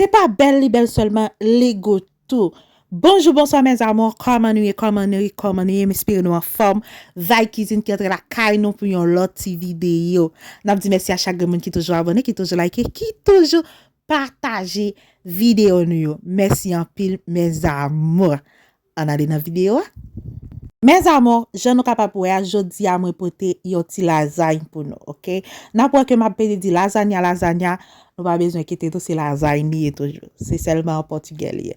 Se pa bèl li bèl sèlman li gou tou. Bonjou bonswa mes amours kòman nou ye kòman nou ye kòman nou ye m espere nou anfòm Vibe cuisine ki antre lakay nou pou yon lòt ti videyo nap di mèsi a chak grenn moun ki toujou abòne ki toujou like ki toujou pataje videyo nou yo mèsi anpil mes amours Ann ale nan video a. Mes amours jan nou kapab wè a jodi a mwen pote yon ti lasagne pou nou ok nap wè ke map pede di lasagna lasagna nou pa bezwen kite tou se lasagne li ye toujou se sèlman an pòtugè li ye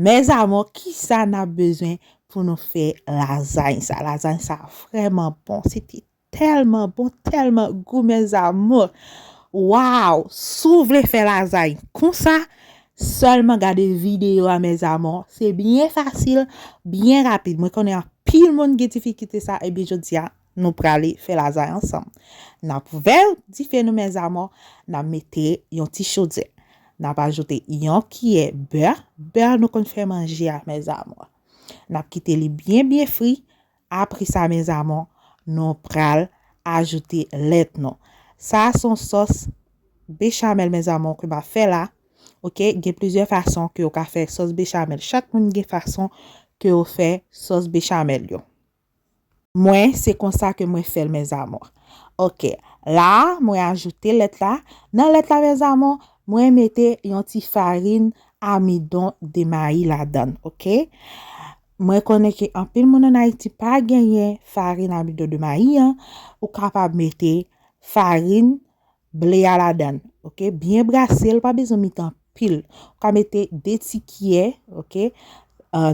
mes amours kisa nap bezwen pou nou fè lasagne sa lasagne sa vrèman bon se ti Tèlman bon tèlman gou mes amours waw si w vle fè lazay konsa sèlman gade videyo a mes amours se byen fasil byen rapid mwen konnen anpil moun gen difikite sa ebyen jodia nou prale fè lazay ansanm nap vè dife nou mes amours nap mete yon ti chodyè nap ajoute yon kiyè bè bè nou konn fè manje a mes amours nap kite li byen byen fri Apre sa mes amours nou pral ajoute lèt nou. Sa a son sòs bechamel mes amours ke map fè la ok gen plizyè fason ke ou ka fè sòs bechamel chak moun gen fason ke yo fè sòs bechamel yo. Mwen se konsa ke mwen fèl mes amours ok la a mwen ajoute lèt la nan lèt la mes amours mwen mete yon ti farine amidon de mayi ladann ok Mwen konnen ke anpil moun an Ayiti pa genyen farin amido de mayi an, ou kapab mete farin ble a ladan, ok, byen brase l pa bezwen met anpil, ou ka mete 2 ti kiyè ok,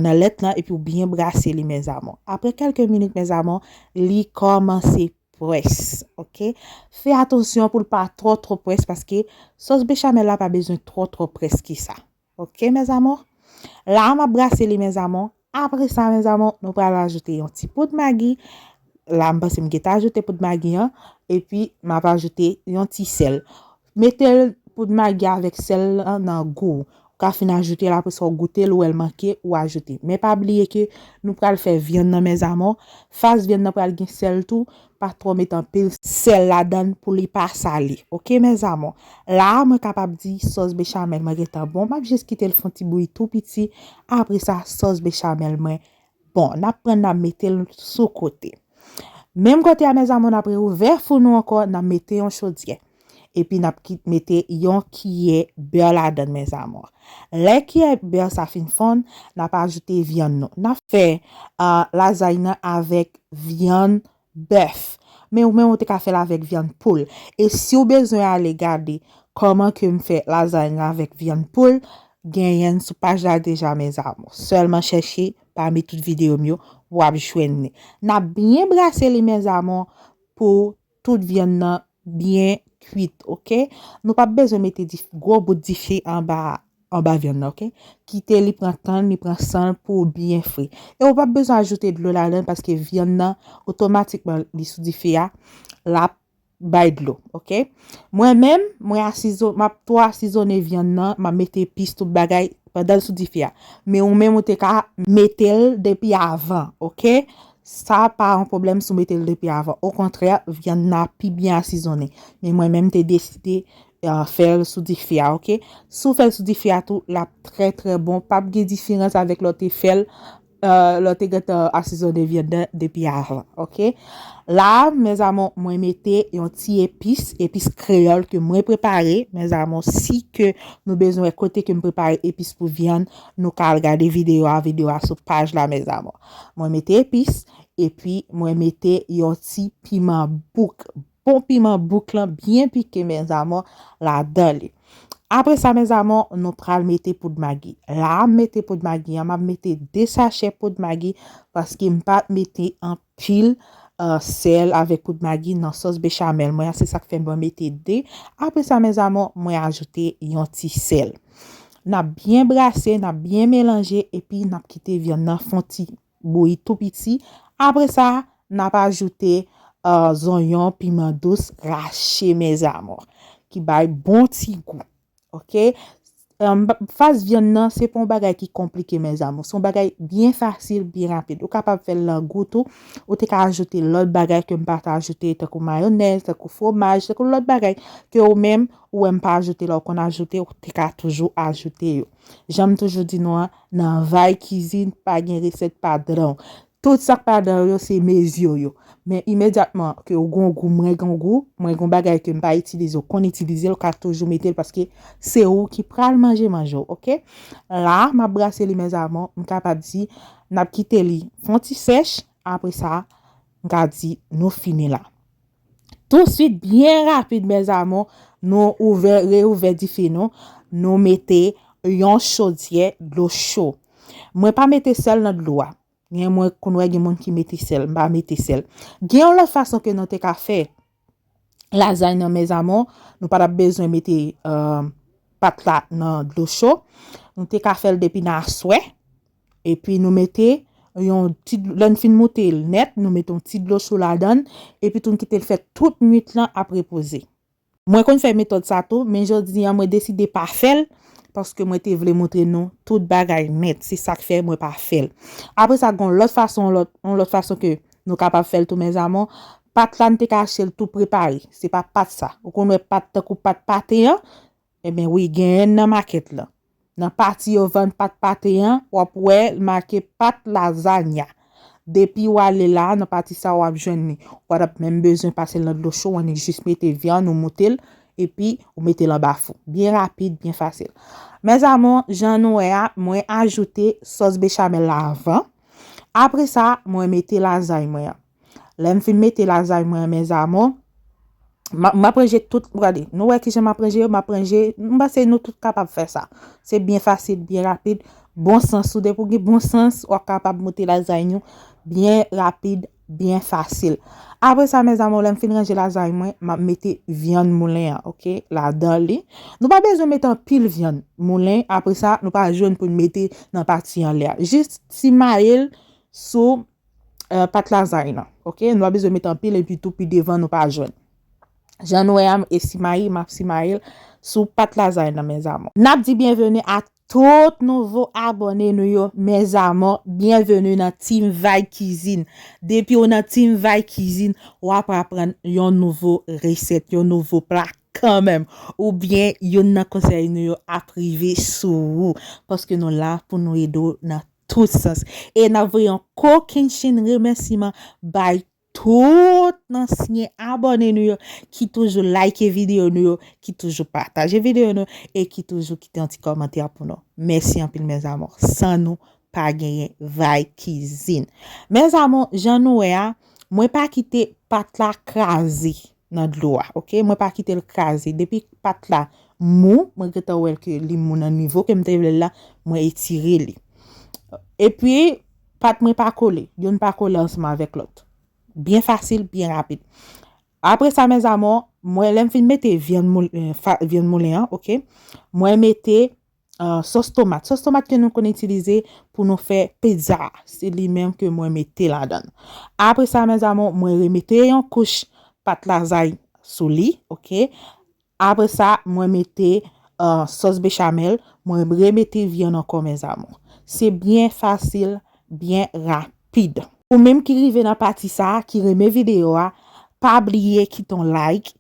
nan lèt lan epi ou byen brase li mes amour, aprè kèlke minit mes amour li kòmanse pwès ok, fè atansyon pou l pa twò twò pwès paske sòs bechamel la pa bezwen twò twò pwès ke sa Ok mes amours la a map brase li mes amours apre sa mes amours nou pral ajoute yon ti poud magi la m panse m geta ajoute poud magi an epi map ajoute yon ti sèl metel poud magi avèk sèl lan nan gou ou ka fin ajoute l apre sa ou goute l ou wè l manke ou ajoute men pa bliye ke nou pral fè vyann nan mes amours fas vyann nan pral gen sèl tou pa twò met anpil sèl ladann pou li pa sale ok mes amour la a mwen kapab di sòs bechamel mwen gentan bon map jis kitel fon ti bouyi tou piti apresa sòs bechamel mwen bon nap pran nap metel sou kote menm kote a mes amour nap reouvè fou nou ankò nap mete yon chodyè. Epi n ap kit mete yon kiyè bè ladan l mes amours. Lè kiyè bè sa fin fonn, n ap ajoute vyann nou. N ap fè lazay nan avèk vyann bèf. Men ou menm ou te ka fè l avèk vyann poul. E si ou bezwen ale gade kòman ke m fè lazay nan avèk vyann poul, genyen l sou paj la deja mes amours. Sèlman chèche pami tout videyo m yo, w ap jwenn li. N ap byen brase li mes amours pou. Tout vyann nan byen kuit ok. Nou pap bezwen mete gwo bout dife anba vyann nan ok. Kite li pran tann li pran sanl pouw byen fri. E ou pap bezwen ajoute dlo ladann paske vyann nan otomatikman li sou dife a lap bay dlo ok. Mwen menm mwen asizone map tou asizone vyann nan map mete epis tout bagay pandanl sou dife a. Men ou menm ou te ka metel depi avan ok. Sa pa yon pwoblèm si w mete l depi avan. Okontrè, vyann nan ap pi byen asizonnen. Men mwen menm m te deside fè l sou dife a ok. Si w fè l sou dife a tou, l ap trè trè bon. Pa p gen diferans avèk lè w te fè l, lè w te gentan asizonnen vyann nan depi avan ok. La a mèzamou mwen mete yon ti epis, epis kreyòl ke mwen prepare. Mèzamou si ke nou bezwen wè kote ke m prepare epis pou vyann, nou ka al gade videyo a, videyo a sou paj la mèzamou. Mwen mete epis epi mwen mete yon ti piman bouk. Bon piman bouk lan byen pike mes amour ladan li. Apre sa mes amour nou pral mete poud magi. La a m mete poud magi an, m ap mete 2 sachè poud magi paske m pa mete anpil sèl avèk poud magi nan sòs bechamel mwen an se sak fè mwen mete 2. Apre sa mes amour mwen ajoute yon ti sèl. Nap byen brase, nap byen melanje epi nap kite vyann nan fon ti bouyi tou piti, apre sa nap ajoute zonyon, piman dous rache mes amours ki bay bon ti gou ok. Fas vyann nan se pa yon bagay ki konplike mes amours, se yon bagay byen fasil, byen rapid, ou kapab fèl nan gout ou, ou te ka ajoute lòt bagay kem pat ajoute tankou mayonèz, tankou fwomaj, tankou lòt bagay ke ou menm Ou wèm pa ajoute la ou konn ajoute ou te ka toujou ajoute yo. Janm toujou di nou an nan vay kizin pa gen resèt padranw. Tout sak padranw yo se meziw yo. Men imedyatman ke ou gon gou mwen gon gou, mwen gon bagay kem pa itilize ou konn itilize ou ka toujou metel paske se ou ki pral manje manje ou ok. La map brase li mes amour m kapab di nap kite li fon ti sèch apresa m ka di nou fini la. Tou swit byen rapid mes amour nou ouvè reouvè dife nou, nou mete yon chodyè dlo cho. Mwen pa mete sèl nan dlo a. Gen mwen konn wè gen moun ki mete sèl, mpa mete sèl. Gen yon lòt fason ke nou te ka fè lazany nan mes amour, nou pa tap bezwen mete euh, pat la nan dlo cho. Nou te ka fèl depi nan aswè. Epi nou mete yon ti dlo, lè n fin moute l nèt, nou mete yon ti dlo chou ladan epi tou n kite l fè tout nwit lan ap repoze. Mwen konn fè metòd sa tou, men jodi an mwen deside pa fè l paske mwen te vle montre nou tout bagay nèt, se sa k fè mwen pa fè l. Apre sa gen yon lòt fason, yon lòt fason ke nou kapab fè l tou mes amour, pat la n te ka achte l tou prepare, se pa pat sa, ou konn wè pat tankou pat pate an, Ebyen wi genyenn nan makèt lan. Nan pati yo vann pat pate an wap wè l make pat lazanya. Depi w ale la nan pati sa wap jwenn li. Ou pa tap menm bezwen pase l nan dlo cho wan ni jis mete vyann ou moute l epi ou mete l anba fou. Byen rapid byen fasil. Mes amours jan nou wè a mwen ajoute sòs bechamel la avan. Apresa mwen mete lazany mwen an. Lè m fin mete lazay mwen an mes amours, m ap ranje tout, gade, nou wè kijan m ap ranje yo, m ap ranje, m panse nou tout kapab fè sa. Se byen fasil, byen rapid, bon sans, ou depi ou gen bon sans, w ap kapab moute lazay nou byen rapid, byen fasil. Apre sa mes amours, lè m fin ranje lazay mwen, m ap mete vyann moulen an, ok, ladan li. Nou pa bezwen mete anpil vyann moulen, apre sa, nou pa jwenn pou n mete nan pati anlè a. Jis simaye l sou euh, pat lazay nan. Ok, nou pa bezwen met anpil epi tou pi devan nou pa jwenn. Jan nou wè am e simayi map simayil sou pat lazay nan mes amours. Nap di byenveni a tout nouvo abòne nou yo mes amours, byenveni nan Team Vay Kizin. Depi ou nan Team Vay Kizin, wap aprann yon nouvo resèt, yon nouvo pla kanmenm ou byen youn nan konsèy nou yo ap rive sou ou paske nou la pou nou ede w nan tout sans e nap voye yon kokennchenn remèsiman bay tout ansyen abòne nou yo ki toujou like videyo nou yo ki toujou pataje videyo nou e ki toujou kite yon ti kòmantè pou nou mèsi anpil mes amours san nou pa genyen vay kizin mes amours jan nou wè a mwen pa kite pat la kraze. nan dlo a ok mwen pa kitel kraze depi pat la mou mwen gentan wèl ke li mou nan nivo kem te vlel la mwen etire li epi pat mwen pa kole youn pa kole ansanm avèk lòt byen fasil byen rapid apre sa mèzamò mwen lèm fin mete vyann moulen an ok mwen mete Sòs tomat. Sòs tomat ke nou konn itilize pou nou fè pizza. Se li menm ke mwen mete ladan. Apre sa, mè zamò, mwen remete yon kouch pat lazay sou li. Ok. Apre sa, mwen mete euh, sòs bechamel. Mwen remete vyan ankò, mè zamò. Se byen fasil, byen rapid. Ou menm ki rive nan pati sa, ki renmen video a, pa bliye kite yon like.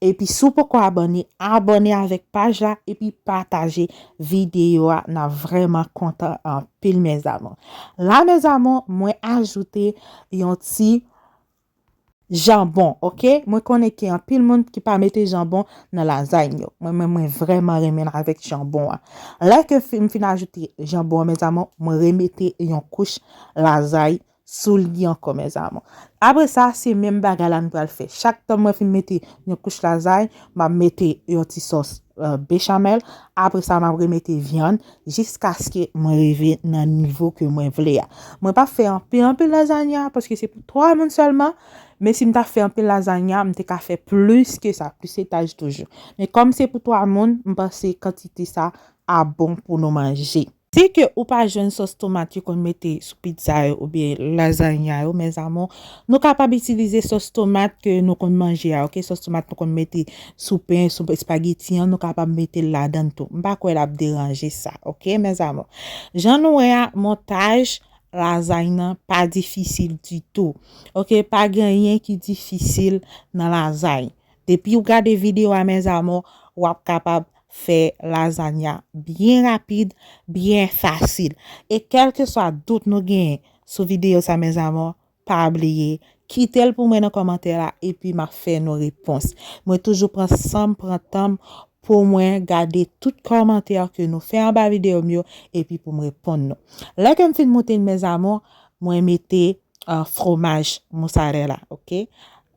Epi si w poko abòne abòne avèk paj la epi pataje videyo a nap vrèman kontan anpil mes amour la mes amour mwen ajoute yon ti janbon ok mwen konnen gen anpil moun ki pa mete janbon nan lazay yo mwen menm mwen vrèman renmenl avèk janbon an lè ke m fin ajoute janbon an mes amour mwen remete yon kouch lazay sou li ankò mes amour apre sa se menm bagay la nou pral fè chak tan mwen fin mete yon kouch lazay map mete yon ti sòs bechamel apre sa map remete vyann jiskaske mwen rive nan nivo ke mwen vle a mwen pa fè anpil anpil lazanya paske se pou 3 moun sèlman men si m ta fè anpil lazanya m te ka fè plis ke sa plis etaj toujou men kòm se pou 3 moun m panse kantite sa a bon pou nou manje. Si ke ou pa jwenn sòs tomat yo konn mete sou pizza yo oubyen lasagna yo mes amours nou kapab itilize sòs tomat ke nou konn manje a ok sòs tomat nou konn mete sou pen sou espageti an nou kapab metel ladann tou m pa kwè lap deranje sa ok mes amours jan nou wè a montaj lasagne nan pa difisil ditou ok pa gen anyen ki difisil nan lasagne Depiw gade video a mes amours wap kapab fè lasagna byen rapid byen fasil e kelkeswa dout nou genyen sou video sa mes amours pa bliye kitel pou mwen nan komantè la epi map fè nou repons mwen toujou pran sanm pran tanm pou mwen gade tout komantè ke nou fè anba video m yo epi poum reponn nou lè kem fin moute l mes amours mwen mete fromaj mousarela ok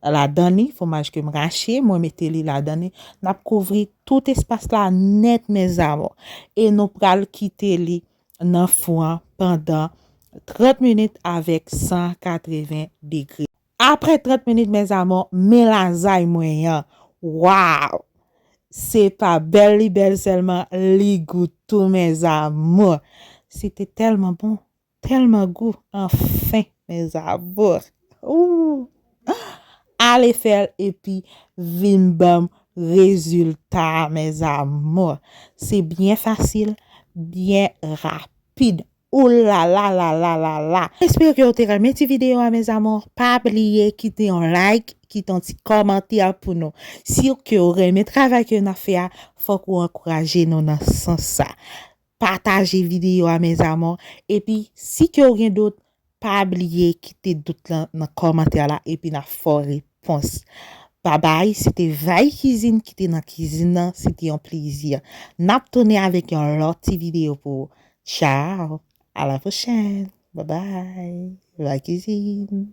Ladan li, fwomaj ke m rache, mwen mete li ladan li. N ap kouvri tout espas la nèt mèzamò. E nou pral kite li nan fou an pandan 30 minit avèk 180 degre. Apre 30 minit mèzamò, men lazay mwen an! Waww! Se pa bèl li bèl sèlman, li gou tou mèzamou! Se te tèlman bon, Telman gou anfin mes amours ooh ale fel epi vin banm rezilta a mes amours se byen fasil byen rapid ooh lala lala lala. M espere ke ou te renmen ti video a mes amours pa bliye kite yon like kite yon ti komantè pou nou siw ke ou renmen travay ke nap fè a fok ou ankouraje nou nan sans sa Pataje video a mes amours epi si ke ou gen dout pa bliye kite dout lan nan komantè la epi na fè w repons babay se te Vay kizin ki te nan kizin nan se te yon plezi nap tounen avek yon lot ti video pou ou tchao a la pwochèn babay Vay kizin.